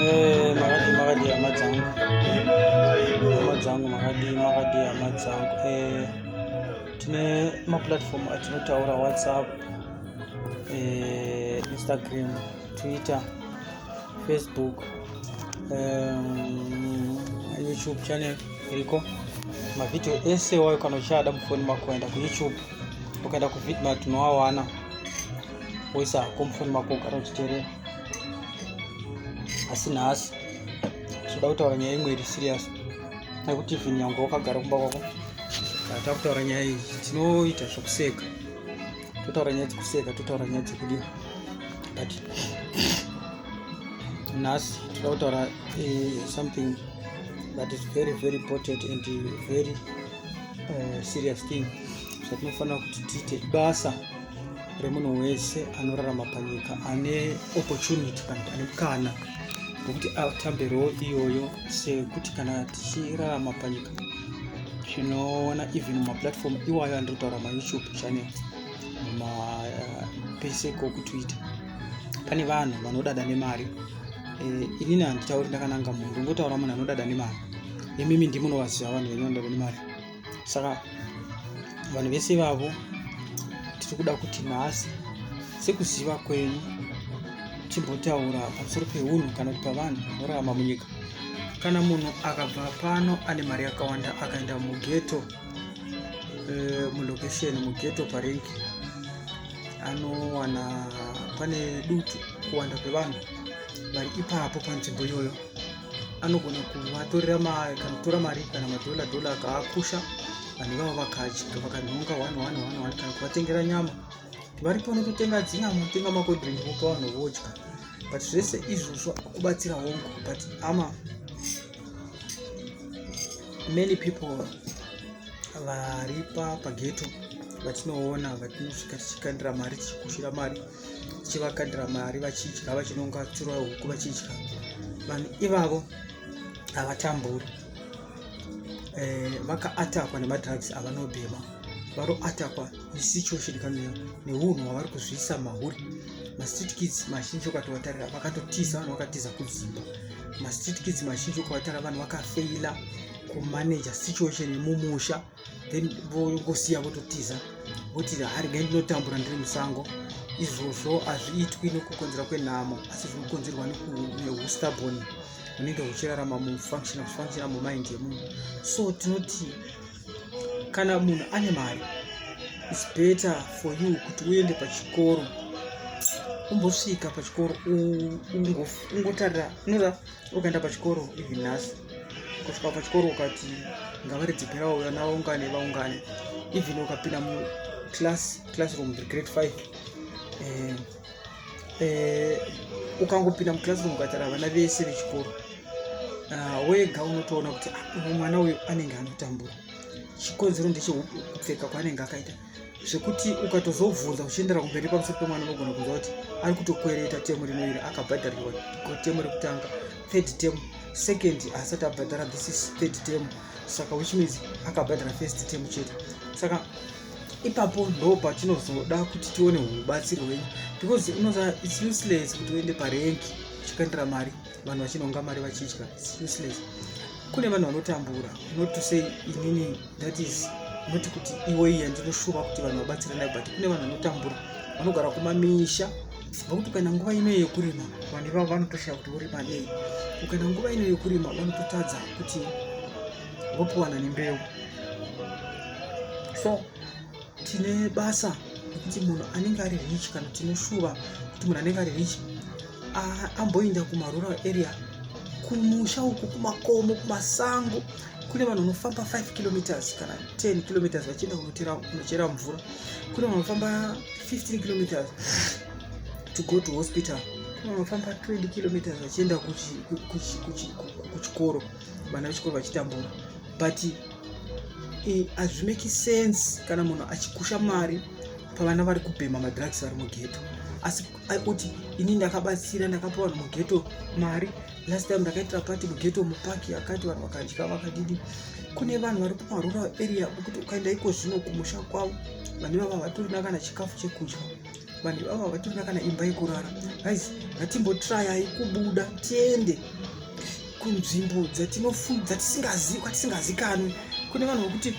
Eh, makadii makadii hama dzangu hama dzangu makadii makadii hama dzangu eh, tine maplatform atinotaura whatsapp eh, instagram twitter facebook youtube channel iriko mavhidhiyo ese wayo kana uchada mufoni mako kuenda kuyoutube ukaenda kuvhidhi matinoawana woisa hako mufoni mako ugara uchiterera asi nhasi tinoda kutaura nyaya imwe iri serious nekuti even nyangwe wakagara kumba kwako taa kutaura nyaya iyi tinoita zvekuseka totaura nyaya dzekuseka totaura nyaya dzekudii but nhasi tinoda kutaura eh, something that is very very important and very uh, serious thing zvatinofanira kuti tiite basa remunhu wese anorarama panyika ane opportunity kana kuti ane mukana wekuti atambe role iyoyo sekuti kana tichirarama panyika tinoona even mumaplatform iwayo andiri kutaura mayoutube channel mumapese eh, kokutwitter pane vanhu vanodada nemari eh, inini handitauri ndakananga munhu ndongotaura munhu anodada nemari imimi ndimunovaziva vanhu venyu vanodada nemari saka vanhu vese vavo tiri kuda kuti nhasi sekuziva kwenyu timbotaura pamusoro peunhu kana kuti pavanhu vanorarama munyika kana munhu akabva pano ane mari yakawanda akaenda mugeto eh, mulocation mugeto parink anowana pane dutu kuwanda kwevanhu vari ipapo panzvimbo iyoyo anogona kuvatorera kanotora mari kana madhola dhola akaakusha vanhu ivavo vakadya vakanhonga one one one one kana kuvatengera nyama vari pano totenga dzinyama kutenga makodrink vopa vanhu vodya but zvese izvozvo kubatsira hongu but ama many people vari pageto vatinoona vatinosvika tichikandira mari tichikushira mari chivakadira mari vachidya vachinonga tsuro huku vachidya vanhu ivavo havatamburi eh, vakaatakwa nemadrugs avanobhema varoatakwa nesituation kana neunhu hwavari kuzviisa mahuri mastreet kids mazhinji ukatovatarira vakatotiza vanhu vakatiza kudzimba mastreet kids mazhinji ukavatarira vanhu vakafeila kumanaja situation yemumusha then vongosiya vototiza voti hari gai ndinotambura ndiri musango izvozvo hazviitwi nekukonzera kwenhamo asi zvinokonzerwa neustabon hunenge huchirarama mufunctional mumind yemunhu so tinoti kana munhu ane mari its better for you kuti uende pachikoro umbosvika pachikoro ungotarira unoda ukaenda pachikoro even nhasi kusvika pachikoro ukati ngavaridzi perawo vana vaungane vaungane even ukapinda muclass classroom grade five eh, eh, ukangopinda muclassroom ukatara vana vese vechikoro ah, wega unotoona kuti ah, mwana uyu anenge anotambura chikonzero ndechekupfeka kwaanenge akaita zvekuti ukatozobvunza uchiendera kumberi pamusoro pemwana unogona kunzwa kuti ari kutokwereta temu rino iri akabhadharirwa temu rekutanga third tem second haasati abhadhara this is third tem saka which means akabhadhara first tem chete saka ipapo ndo patinozoda kuti tione ubatsiri hwenyu because unoza its useless kuti uende parenki uchikandira mari vanhu vachinonga mari vachidya its useless kune vanhu vanotambura not to say inini that is not kuti iwe iya ndinoshuva kuti vanhu vabatsirana but kune vanhu vanotambura vanogara kumamisha ngokuti ukaenda nguva ino yekurima vanhu ivavo vanotoshaya kuti vorima nei ukaenda nguva ino yekurima vanototadza kuti vopiwana nembeu so tine basa rekuti munhu anenge ari rich kana tinoshuva kuti munhu anenge ari rich amboinda kumarural area kumusha uku kumakomo kumasango kune vanhu vanofamba 5 kilometers kana 10 kilometers vachienda kunochera mvura kune vanhu vanofamba 15 kilometers to go to hospital kune vanhu vanofamba 20 kilometers vachienda kuchikoro vana vechikoro vachitambura but hazvimeki sense kana munhu achikusha mari pavana vari kubhema madrugs vari mugeto asi kuti ini ndakabatsira ndakapa vanhu mugeto mari last time ndakaitira pati mugeto mupaki akati vanhu vakadya vakadidi kune vanhu vari kumarural area ukuti ukaenda iko zvino kumusha kwavo vanhu ivava vatorina kana chikafu chekudya vanhu ivava havatorina kana imba yekurara guys ngatimbotrayai kubuda tiende kunzvimbo dzatisingazivi kwatisingazikanwi kune vanhu vekuti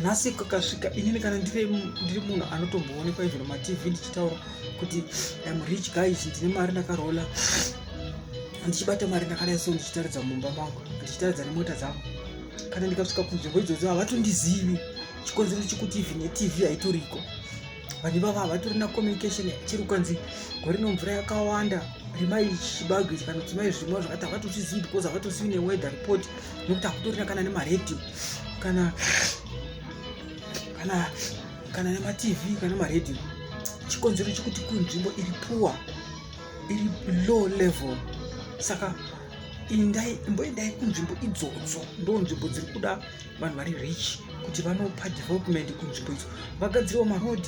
nhasi kakasvika inini kana ndiri munhu anotomboonekwa izvo matv ndichitaura kuti im rich guys ndine mari ndakarola handichibata mari ndakadai so ndichitaridza mumba mangu handichitaridza nemota dzangu kana ndikasvika kunzvimbo idzodzo havatondizivi chikonzero chekuti even netv haitoriko vanhu ivavo havatorina communication chiri kwanzi gore no mvura yakawanda rimai chibage kana kuti mai zvirimo zvakati havatozvizivi because havatosivi neweather report nokuti hakutorina kana nemaradio kana kana kana nematv kana maradio chikonzero chekuti kunzvimbo iri puwa iri low level saka indai imboendai kunzvimbo idzodzo ndo nzvimbo dziri kuda vanhu vari rich kuti vanopa development kunzvimbo idzo vagadzirewo maroad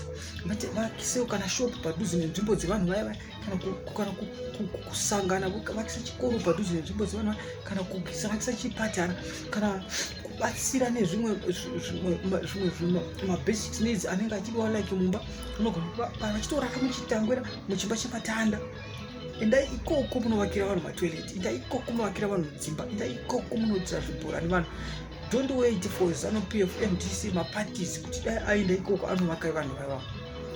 vakisewo kana shop padhuze nenzvimbo dzevanhu vaya vaya kana kusangana vakisa chikoro padhuze nenzvimbo dzevanhu vaya kana vakisa chipatara kana kubatsira nezvimwe zvimwe mabasic needs anenge achidiwa like mumba unogona vachitooraka muchitangwira muchimba chepatanda endai ikoko munovakira vanhu matoilet endai ikoko munovakira vanhu dzimba endai ikoko munoitira zvibhorani vanhu don't wait for zanu p f mdc maparties kuti dai aenda ikoko anovaka vanhu vaiva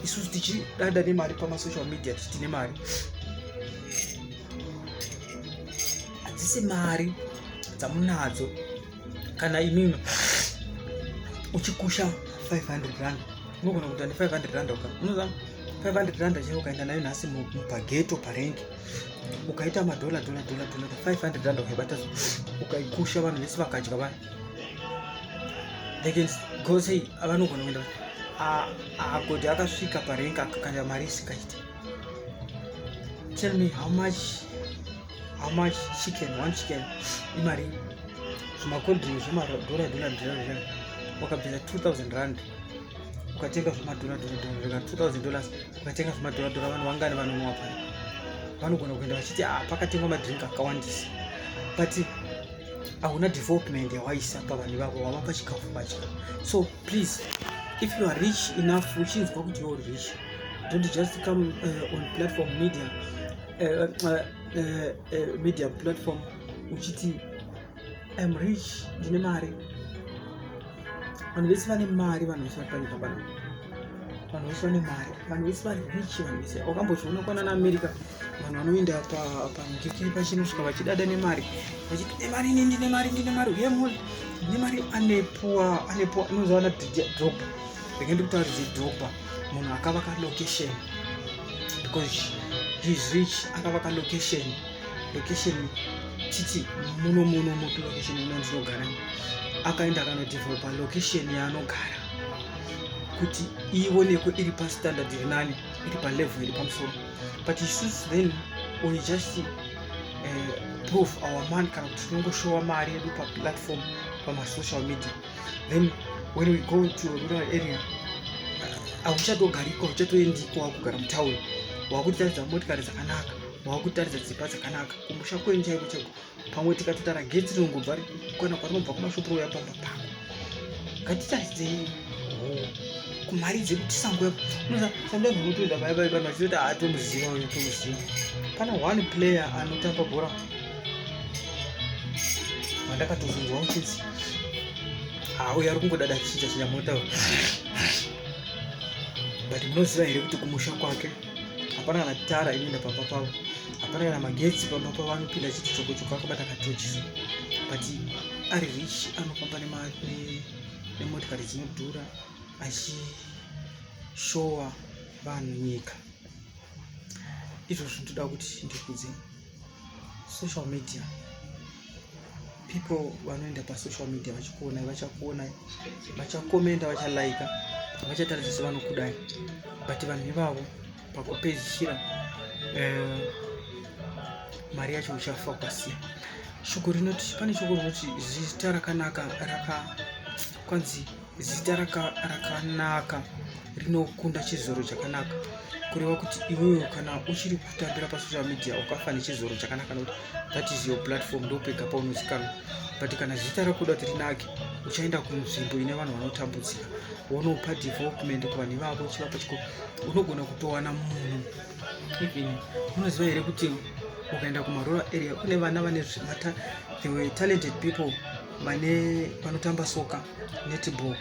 isusu tichidada nemari pamasocial media tichiti nemari hadzisi mari dzamunadzo kana imimi uchikusha 500 rand unogona kuita ne 500 rand uka unoziva 500 rand chaiyo ukaenda nayo nhasi mupageto parengi ukaita madhola dhola dhola dhola 500 rand ukaibata ukaikusha vanhu vese vakadya vaya they can go say vanogona kuenda agoti akasvika parengi akakanda mari isikaite tell me how much how much chicken one chicken imari zvimacoldring zvemadhola dhola dhola wakabvisa 2000 rand ukatenga zvemadhora dhora dhora 2000 dollars ukatenga zvemadhora dhora vanhu vangani vanonwa paya vanogona kuenda vachiti ah pakatengwa madrink akawandisa but hauna development yawaisa pavanhu vavo wava pachikafu pacho so please if you are rich enough uchinzwa kuti you're rich don't just come uh, on platform media uh, uh, uh, uh, media platform uchiti I'm rich ndine mari vanhu vese vane mari vanhu vese vari panyika pano vanhu vese vane mari vanhu vese vari rich vanhu vese wakambozviona kwana naamerica vanhu vanoenda pamudikiri pachinosvika vachidada nemari vachiti ndine mari ini ndine mari ndine mari uye muli ndine mari anepuwa anepuwa inozovana dropa rege ndikutaurize dropa munhu akavaka location because he's rich akavaka location location titi muno muno mupi location ino ndinogara akaenda akanodevelopa location yaanogara kuti ionekwe iri pastandard iri nani iri palevel iri pamusoro but isusu then we just uh, prove our man kana kuti tinongoshowa mari yedu paplatform pamasocial media then when we go to rural area hauchatogariko uchatoendiko wakugara mutown wakuti taridza motikari dzakanaka wakutaridza dzimba dzakanaka kumusha kwenyu chaiko chaiko pamwe tikatotara getsi rinongobva kana kwarinobva kumashopu rouya pamba pako ngatitaridzei kumari dzekuti sango yapo unoza sango zvinotoenda paya paya pano achitoti aatomuziva uyu tomuziva pana one player anotamba bhora vandakatozonzwa uchinzi auya ari kungodada chichinja chinja motaura but munoziva here kuti kumusha kwake hapana kana tara inoenda pamba pavo hapana kana magetsi pamba pavo anopinda chiti choko choko akabata katochisa but ari rich anofamba nemotikari dzinodhura achishowa vanhu nyika izvozvo ndoda kuti ndikudze social media people vanoenda pasocial media vachikuonai vachakuonai vachakomenda vachalaika vachataridza sevanokudai but vanhu ivavo pakupedzisira eh, mari yacho uchafa ukasiya shoko rinoti pane shoko rinoti zita rakanaka raka kwanzi Zita raka- rakanaka rinokunda chizoro chakanaka kureva kuti iwewe kana uchiri kutambira pasocial media ukafa nechizoro chakanaka nokuti that is your platform ndopega paunozikanwa but kana zita rakuda kuti rinake uchaenda kunzvimbo ine vanhu vanotambudzika wonopa development kuvanhu ivavo uchivapa chiko unogona kutowana munhu even unoziva here kuti ukaenda kumarural area kune vana vane zvimata they were talented people vane vanotamba soka netball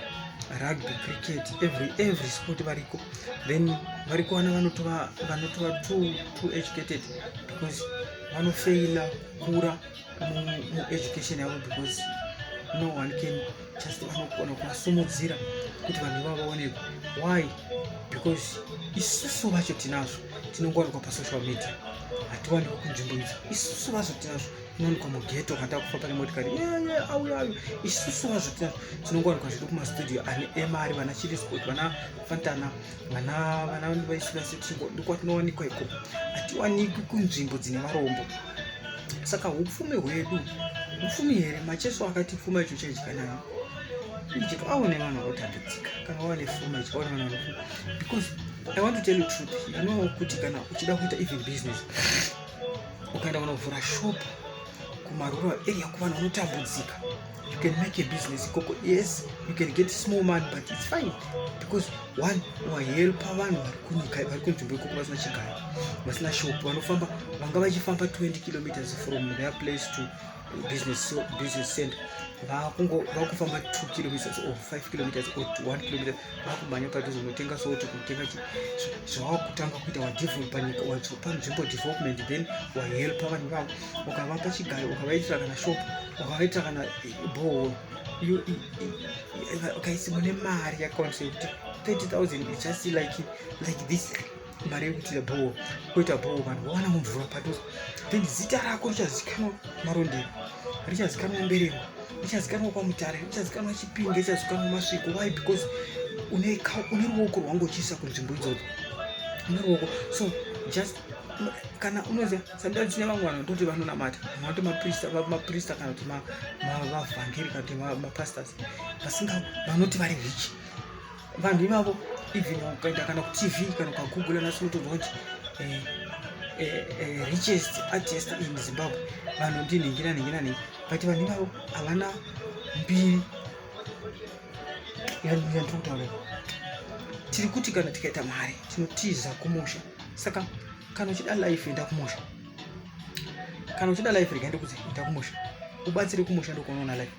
rugby cricket every every sport variko then vari kuwana vanotova vanotova too too educated because vanofeila kura mueducation yavo because no one can just vanogona kuvasumudzira kuti vanhu ivavo vaonekwa why because isusu vacho tinazvo tinongowanikwa pasocial media hatiwanikwa kunzvimbo idzo isusu vacho tinazvo unowanikwa mugeto kana takufa pane motikari yeye auya ayo isusu vazvoti tinongowanikwa zvedu kumastudio ane emari vana chili sport vana fantana vana vana vaisivasi tichingo ndikwatinowanikwa iko hatiwanikwi kunzvimbo dzine varombo saka upfumi hwedu upfumi here macheso akati pfuma icho chaidya nayo ichito aone vanhu vanotambidzika kana wawane pfuma icho aone vanhu vanofuma because i want to tell you truth you know kuti kana uchida kuita even business ukaenda kunovhura shop kumarural area kuvanhu vanotambudzika you can make a business ikoko yes you can get small money but it's fine because one wahelpa vanhu vari kunyika vari kunzvimbo ikoko vasina chigaro vasina shop vanofamba vanga vachifamba 20 kilometers from their place to business business center vakungo vakufamba 2 kilometers or 5 kilometers or 1 kilometers vakumhanya padhuze unotenga soti kutenga chi zvawakutanga kuita wadevelop panyika wazopa nzvimbo development then wahelpa vanhu vavo ukavapa chigaro ukavaitira kana shop ukavaitira kana bohol ukaisi mune mari yakawandisa yekuti 30000 is just like like this mari yekuitira bhowa kuita bhowa vanhu vawana mumvura padhuze then zita rako richazikanwa marondero richazikanwa mberengwa richazikanwa kwamutare richazikanwa chipinge richazikanwa masviko why because une ruoko rwangu uchiisa kunzvimbo idzodzo une ruoko so just kana unoziva sometimes tine vamwe vanhu vatoti vanonamata vanoti maprista kana kuti mavhangeri kana kuti mapastors vasinga vanoti vari rich vanhu ivavo even ukaenda kana kutv kana ukagoogle nasi unotonzwa kuti eh, eh, eh, richest artist in zimbabwe vanhu ndinhingira nhingira nei but vanhu ivavo havana mbiri yandiri kutaura tiri kuti kana tikaita mari tinotiza kumusha saka kana uchida life enda kumusha kana uchida life rega ndikuti enda kumusha ubatsire kumusha ndokunoona life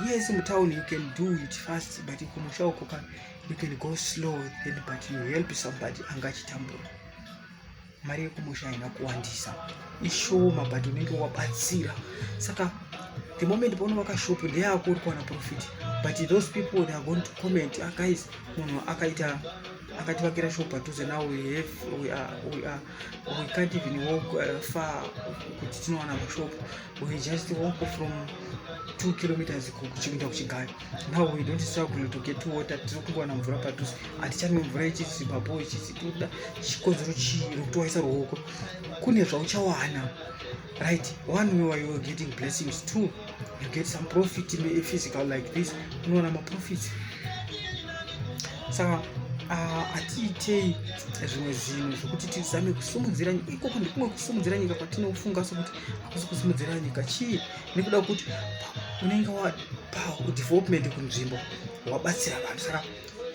yes mutown you can do it fast but kumusha uko ka you can go slow then but you help somebody anga achitambura mari yekumusha haina kuwandisa ishoma but unenge wabatsira saka the moment paona vakashop ndeyako uri kuwana profit but those people they are going to comment ah, guys munhu akaita akativakira shop padhuze now we have we are, we are we can't even walk uh, far kuti tinowana mashop we just walk from two kilometers kuenda kuchigari now we don't struggle to get water tiri kungowana mvura padhuze hatichanwe mvura ichisi babo ichisi toda chikonzero chii rokutowaisa ruoko kune zvauchawana right one way why you're getting blessings two you get some profit in a physical like this unoona maprofits saka ah, hatiitei zvimwe zvinhu zvekuti tizame kusimudzira nyika ikoko ndikumwe kusimudzira nyika kwatinofunga sokuti hakusi kusimudzira nyika chii nekuda kuti unenge wapadevelopment kunzvimbo wabatsira vanhu saka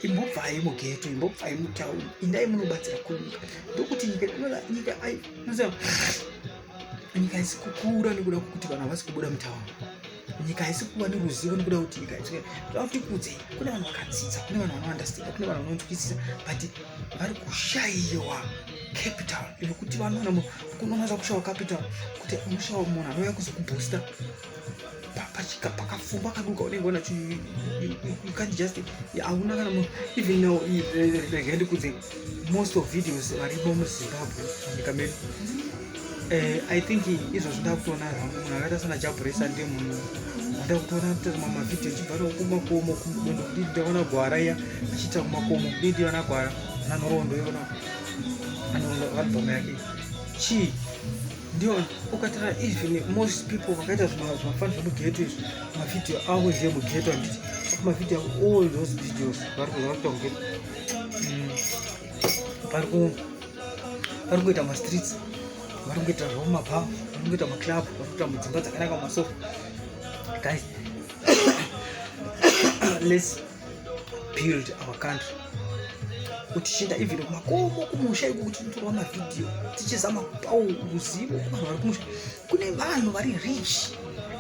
imbobvai mugeto imbobvai mutauni indai munobatsira kunyika ndokuti nyika nyika nyika haisi kukura nekuda kwekuti vanhu havasi kubuda mutauni nyika haisi kuva neruzivo nekuda kwekuti nyika haisi toda kuti kudze kune vanhu vakadzidza kune vanhu vanoandastanda kune vanhu vanonzwisisa but vari kushaiwa capital yekuti vanoona kunonaza kushawa capital kuti unoshawa munhu anouya kuzokubooster pachika pakafumba kaduka unenge ona you can't just hauna kana even now rega ndikudze most of videos varipo muzimbabwe munyika medu eh, i think izvozvo ndakutoona hangu munhu akaita sana jaburesa ndiye munhu ndakutoona kutoona mavideo chibva kumakomo kudondo kudii ndaona gwara iya achiita kumakomo kudii ndiona gwara nanhoroondo yona anorondo album yake chii ndion ukatara even most people vakaita zvimafani zvemugeto izvi mavideo avo zve mugeto anditi mavideo avo all those videos vari kuita mugeto vari ku vari kuita mastreets vari kuita zvavo mabhawa vari kuita maclub vari kuita mudzimba dzakanaka masofa guys let's build our country tichienda even kumakomo kumusha iko kuti titorwa mavhidhiyo tichizama kupawo ruzivo kuvanhu vari kumusha kune vanhu vari rich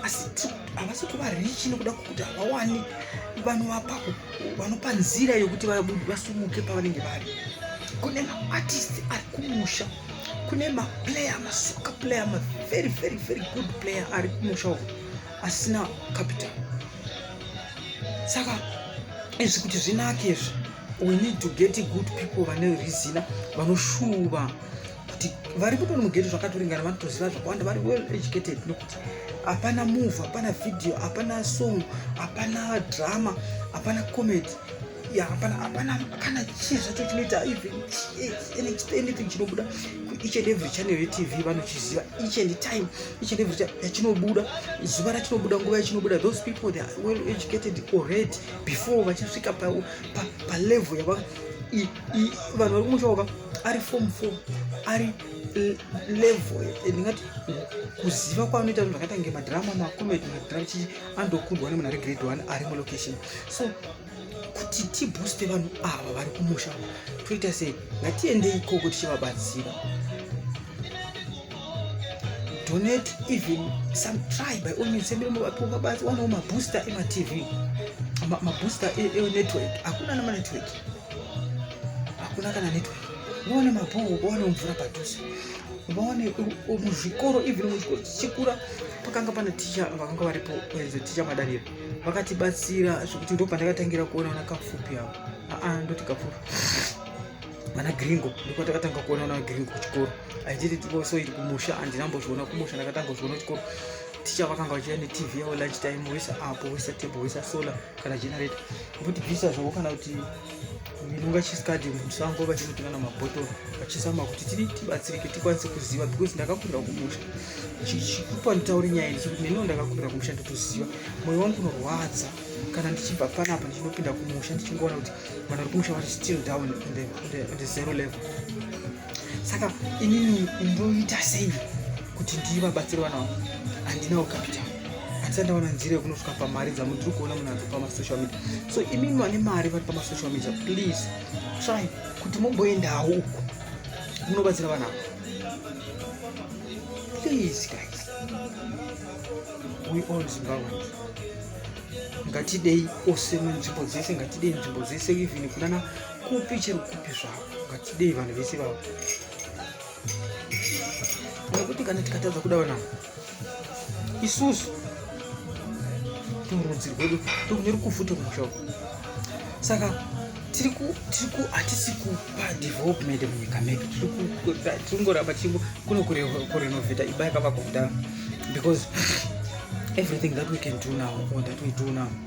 asi havasi kuva rich nekuda kwekuti havawani vanhu vapako vanopa nzira yekuti vasumuke pavanenge vari kune maartist ari kumusha kune maplayer masoka player mavery very very good player ari kumusha uku asina capital saka izvi kuti zvinake izvi we need to get good people vane rizina vanoshuva kuti vari kutoni mugeti zvakatoringana vanotoziva zvakawanda vari well educated nokuti hapana move hapana video hapana song hapana drama hapana comedy ya hapana hapana hapana chii zvacho chinoita even anything chinobuda each and every channel yetv vanochiziva each and time each and every time yachinobuda zuva rachinobuda nguva yachinobuda those people they are well educated already before vachisvika palevel yava vanhu vari kumushaoka ari form four ari level eh, ndingati kuziva kwaanoita zvinhu zvakaita kunge madrama macomed madrama chii andokundwa nemunhu ari grade one ari mulocation so kuti tibooste vanhu ava vari kumusha toita sei ngatiendei ikoko tichivabatsira donate even some try by all means sembere muvaponga basi wanawo mabooster ematv mabooster e, e, enetwork hakuna namanetwork hakuna kana network vaone mabhoho vaone mvura padhuze vaone muzvikoro even muchikoro chichikura pakanga pana ticha vakanga varipo ticha madaniro vakatibatsira zvekuti ndo pandakatangira kuona vana kapfupi avo aa ndoti kapfupi vana gringo ndokwatakatanga kuona vana gringo kuchikoro aititisoiti kumusha andinambozviona kumusha ndakatanga kuzviona kuchikoro ticha vakanga vachiya netv yavo lunch time wesa apo wesa table wesa solar kana generator voti bvisa zvavo kana kuti ndinonga chisikadi musango vachinotenga na mabhotoro vachisama kuti tiri tibatsirike tikwanise kuziva because ndakakurira kumusha chichikupa nditaure nyaya iyi chekuti neniwo ndakakurira kumusha ndotoziva moyo wangu unorwadza kana ndichibva panapa ndichinopinda kumusha ndichingoona kuti vanhu vari kumusha vari still down on the, on the, on the zero level saka inini ndoita sei kuti ndivabatsire vana vangu handinawo capital handisati ndaona nzira yekunosvika pamari dzavo ndiri kuona munhu adzo pamasocial media so imimi vane mari vari pamasocial media please try kuti momboendawo uko munobatsira vana avo please guys we all zimbabweans ngatidei ose munzvimbo dzese ngatidei nzvimbo dzese even kunana kupi chero kupi zvako ngatidei vanhu vese vavo nekuti kana tikatadza kuda vanavo isusu turudzi rwedu tokune rukufu tomusha uku saka tiri ku tiri ku hatisi kupa development munyika medu tiri kungoramba tichiko kuno kurenovheta imba yakavakwa kudaro because everything that we can do now or that we do now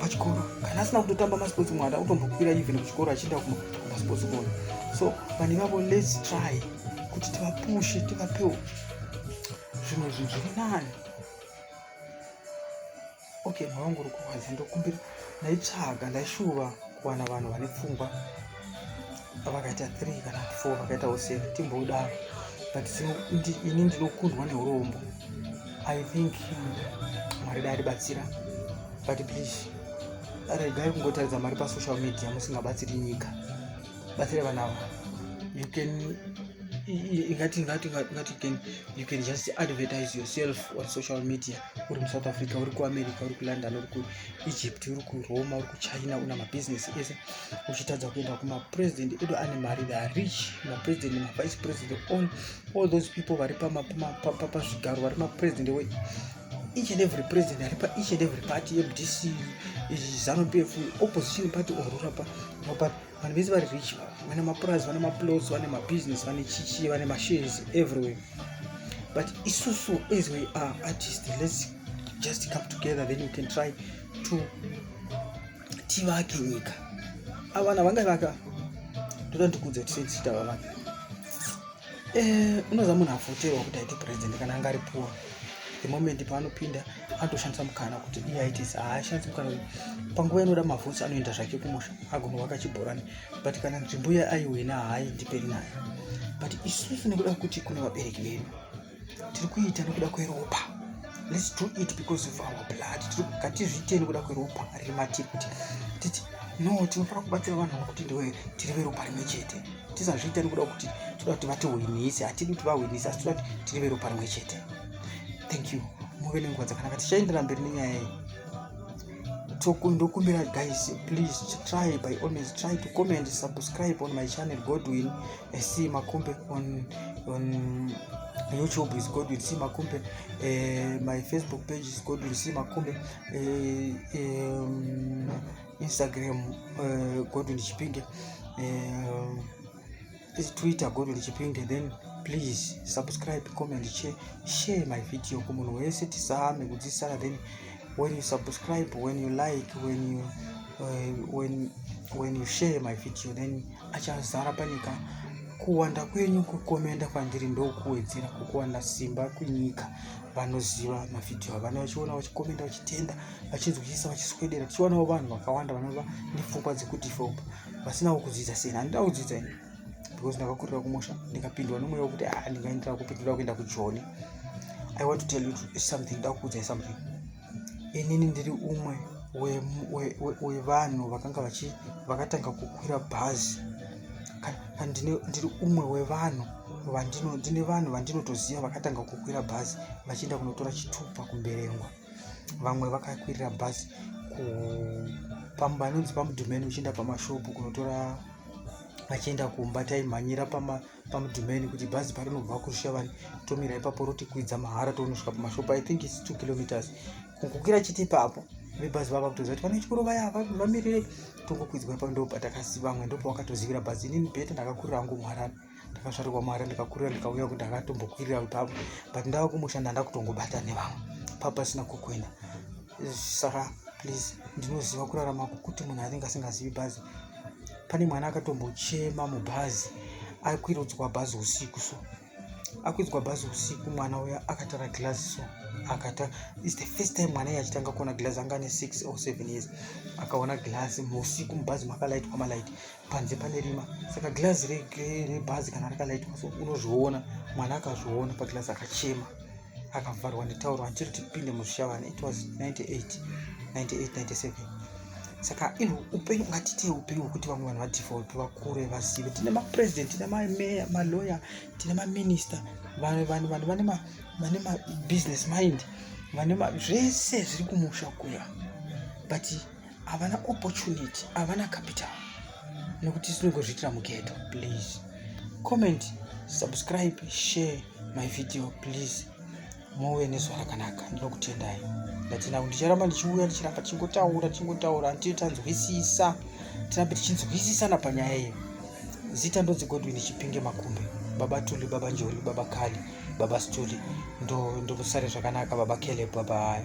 pachikoro kana asina kutotamba masports mwana akutombokwira even kuchikoro achienda kumasports kona so vane vavo lets try kuti tivapushe tivapewo zvimwe zvinhu zviri nani okay mwana wangu uri kurwadza ndokumbira ndaitsvaga ndaishuva kuwana vanhu vane pfungwa pavakaita 3 kana 4 vakaita useni timbodaro but ini ndinokundwa neurombo i think mwari dai ribatsira but please regai kungotaridza mari pasocial media musingabatsiri nyika batsira vana ava you can ingati ingati ingati can you can just advertise yourself on social media uri musouth africa uri kuamerica uri kulondon uri kuegypt uri kuroma uri kuchina una mabusiness ese uchitadza kuenda kumapresident edu ane mari the rich mapresident mavice president all, all those people vari pazvigaro vari mapresident we each and every president ari pa each and every party yemdc zanu p f opposition party orura pa but vanhu vese vari rich vane mapurazi vane maplots vane mabusiness vane chichi vane mashares everywhere but isusu as we are artist let's just come together then you can try to tivake nyika avana vanga vaka toda ndikudze kuti sei tichiita vavana eh, unoza munhu avoterwa kuti aite president kana anga ari poor the moment paanopinda atoshandisa mukana kuti iye aite haashandisi mukana uyu panguva inoda mavhutsi anoenda zvake kumusha agonovaka chibhorani but kana nzvimbo iya aiwina haaindiperi nayo but isusu nekuda kuti kune vabereki vedu tiri kuita nekuda kweropa let's do it because of our blood tiri ngatizviite nekuda kweropa riri matiri kuti titi no tinofanira kubatsira vanhu vakuti ndiwe tiri veropa rimwe chete tisazviita nekuda kuti toda kuti vatihwinise hatidi kuti vahwinise asi toda kuti tiri veropa rimwe chete thank you muve nenguva dzakanaka tichaendera mberi nenyaya iyi ndokumbira guys please try by all means try to comment subscribe on my channel godwin Eh, si makumbe on on youtube is godwin si makumbe eh, my facebook page is godwin si makumbe eh, um, instagram eh, godwin chipinge eh, is twitter godwin chipinge then please subscribe comment share, share my video kumunhu wese tisame kudzisara then when you subscribe when you like when you uh, when when you share my video then achazara panyika kuwanda kwenyu kukomenda kwandiri ndokuwedzera kukuwanda simba kunyika vanoziva mavhidhiyo avana vachiona vachikomenda vachitenda vachinzwisisa vachiswedera tichionawo vanhu vakawanda vanova nepfungwa dzekudevelopa vasinawo kudzidza sena handida kudzidza ini because ndakakurira kumusha ndikapindwa nomweya wekuti a ah, ndingaendera kupi ndoda kuenda kujoni i want to tell you something ndakuudzai something inini ndiri umwe wevanhu vakanga vachi vakatanga kukwira bhazi ndiri umwe wevanhu vandino ndine vanhu vandinotoziva vakatanga kukwira bhazi vachienda kunotora chitupa kumberengwa vamwe vakakwirira bhazi pamba inonzi pamudhumeni uchienda pamashopu kunotora achienda kumba taimhanyira pamudhimeni pama kuti bhazi parinobva kurushavani tomira ipapo rotikwidza mahara tonosvika pamashopa i think its two kilometers kukwira chiti ipapo vebhazi vava kutoziva kuti vane chikoro vaya vamirire tongokwidzwa ipapo ndopatakaziva vamwe ndopavakatozivira bhazi inini bhete ndakakurira hangu muharani ndakazvarirwa mari ndikakurira ndikauya kuti ndakatombokwirira ipapo but ndava kumushanda ndakutongobata nevamwe papasina kukuenda saka please ndinoziva kurarama kukuti munhu anenge asingazivi bhazi pane mwana akatombochema mubhazi akwirudzwa bhazi usiku so akwirudzwa bhazi usiku mwana uya akatara glass so akata is the first time mwana iye achitanga kuona glass anga ane six or seven years akaona glass muusiku mubhazi makalaitwa malaiti panze pane rima saka glazi rebhazi kana rakalaitwa so unozviona mwana akazviona paglazi akachema akavharwa netauro andiri tipinde muzvishavana it was 98 98 97 saka ino upenyu ngatitei upenyu hwekuti vamwe vanhu vadefault vakure vazive tine mapresident tine mameya malawyer tine maminister vanhu vanhu vanhu vane ma vane mabusiness mind vane ma zvese zviri kumusha kuya but havana opportunity havana capital nekuti tinongozviitira mugeto please comment subscribe share my video please move nezuva rakanaka ndinokutendai ndatinau ndicharamba ndichiuya ndichiramba tichingotaura tichingotaura antii tanzwisisa tirambe tichinzwisisana panyaya iyo zita ndonzi godwin chipinge makumbe baba tuli baba njoli baba kali baba stuli ndomusare zvakanaka baba caleb baba haya